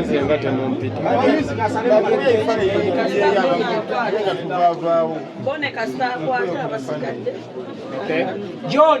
Nze nga temumpita John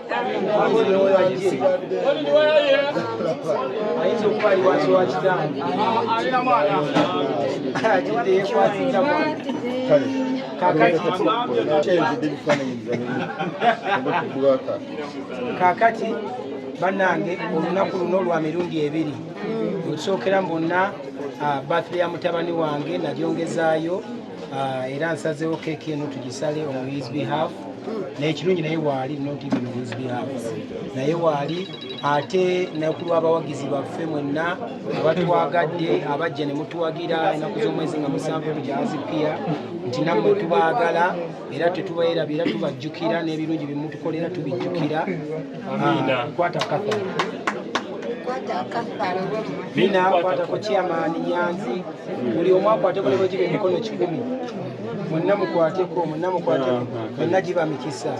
ayinza okuba ali wansi wa kitange alina mwana atidde yekwasiza kakati banange olunaku luno lwa mirundi ebiri olusookera mbonna ah, birthday ya mutabani wange nalyongezaayo Ah, era nsazeewo keeki eno tugisale on his behalf nekirungi naye waali not even on his behalf naye waali ate nakulwa abawagizi baffe mwenna abatwagadde abajja ne mutuwagira enaku z'omwezi nga musanvu tujazipiya nti nammwe tubaagala era tetubaerabira tubajjukira n'ebirungi byemutukolera tubijjukira ah, kwata kafa mina kwata ku chairman nyanzi buli omu akwateko ne bwegiba emikono kikumi mwenna mukwateko mwenna mukwateko mwenna giba mikisa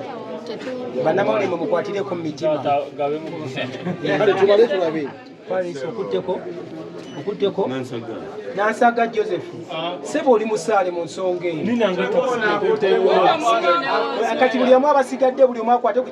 banamawulire mwe mukwatireko mu mitima paris okutteko okutteko nansaga joseph sebo oli musaale mu nsonga eyo kati buli omu abasigadde buli omu akwate